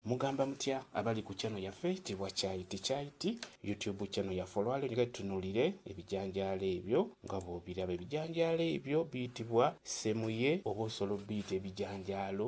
Mugamba mutya abali ku channel yaffe tibwa chai tichai ti YouTube channel yaffe olwalyo njagala tutunulire ebijanjaalo ebyo nga bwobiraba ebijanjaalo ebyo biyitibwa semuye oba osobola obiyita ebijanjaalo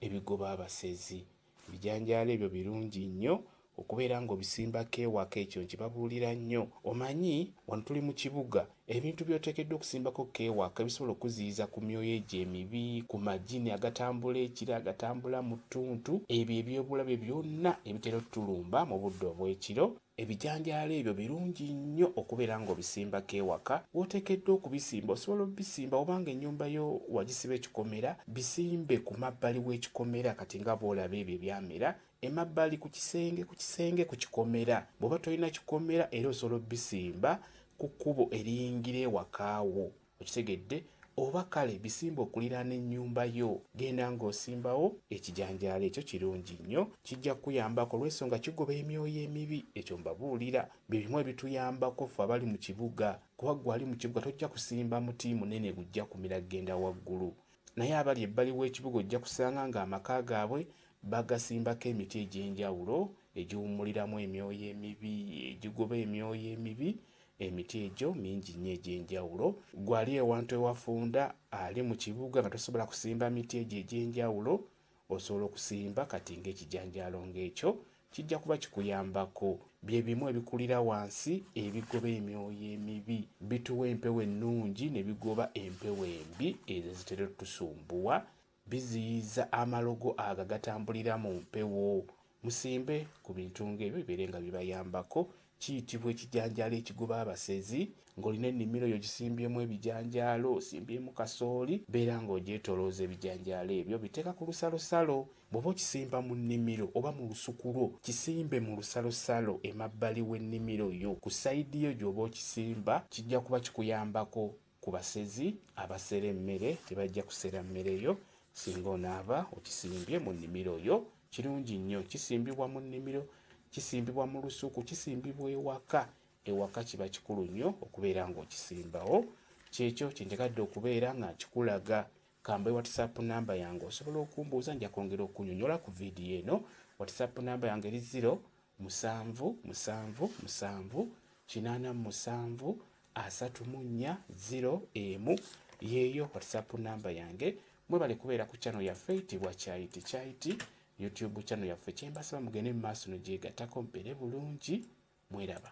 ebigoba abasezi ebijanjaalo ebyo birungi nnyo okubeera ng'obisimbako ewaka ekyo nkibabuulira nnyo omanyi wano tuli mu kibuga Ebintu by'oteekeddwa okusimbako k'ewaka ebisobola okukuziyiza ku myoyo egyo emibi, ku majini agatambula ekiro, agatambula mu ttuntu, ebyo eby'obulabe byonna ebitera otulumba mu budde obw'ekiro, ebijanjaalo ebyo birungi nnyo okubeera ng'obisimbako ewaka w'oteekeddwa okubisimba. Osobola obisimba oba ng'ennyumba yo wagisiba ekikomera, bisimbe ku mabbali w'ekikomera kati nga bw'olaba ebyo ebyamera Emabbali ku kisenge ku kisenge ku kikomera. Bw'oba tolina kikomera era osobola obisimba ku kkubo eriyingira ewaka wo. Okitegedde? Oba kale bisimbe okuliraana ennyumba yo. Genda ng'osimbawo ekijanjaalo ekyo kirungi nnyo. Kijja kukuyambako olw'ensonga kigoba emyoyo emibi. Ekyo mbabuulira. Bye bimu ebituyambako ffe abali mu kibuga. Kuba ggwe ali mu kibuga tojja kusimba muti munene gujja kumira kugenda waggulu. Naye abali ebbali w'ekibuga ojja kusanga ng'amaka gaabwe bagasimbako emiti egy'enjawulo egiwummuliramu emyoyo emibi, egigoba emyoyo emibi. Emiti egyo mingi nnyo egy'enjawulo. Ggwe ali ewantu ewafunda, ali mu kibuga nga tosobola kusimba miti egyo egy'enjawulo, Osobola okusimba kati ng'ekijanjaalo ng'ekyo, kijja kuba kikuyambako. Bye bimu ebikulira wansi ebigoba emyoyo emibi. Bituwa empewo ennungi ne bigoba empewo embi ezo ezitera otusumbuwa. Biziyiza amalogo ago agatambulira mu mpewo. Musimbe ku bintu ng'ebyo bibeere nga bibayambako. Kiyitibwa ekijanjaalo ekigoba abasezi. Ng'olina ennimiro yo ogisimbyemu ebijanjaalo, osimbyemu kasooli, beera ng'ogyetoolooza ebijanjaalo ebyo obiteeka ku lusalosalo. Bw'oba okisimba mu nnimiro oba mu lusuku lwo, kisimbe mu lusalosalo emabbali w'ennimiro yo ku sayidi yo gy'oba okisimba, kijja kuba kikuyambako Ku basezi abasera emmere tebajja kusera mmere yo singa onaaba okisimbye mu nnimiro yo. Kirungi nnyo kisimbibwa mu nnimiro, kisimbibwa mu lusuku, kisimbibwa ewaka. Ewaka kiba kikulu nnyo okubeera ng'okisimbawo. Ky'ekyo kye njagadde okubeera nga nkikulaga. Kambe whatsapp number yange osobola okumbuuza nja kwongera okunyonyola ku video eno whatsapp number yange eri zero musanvu musanvu musanvu kinaana musanvu asatu mu nnya zero emu yeeyo whatsapp number yange mwebale kubeera ku channel yaffe eyitibwa kyayiti kyayiti youtube channel yaffe kyembasaba mugende mu maaso no gyegatako mpeere bulungi mweraba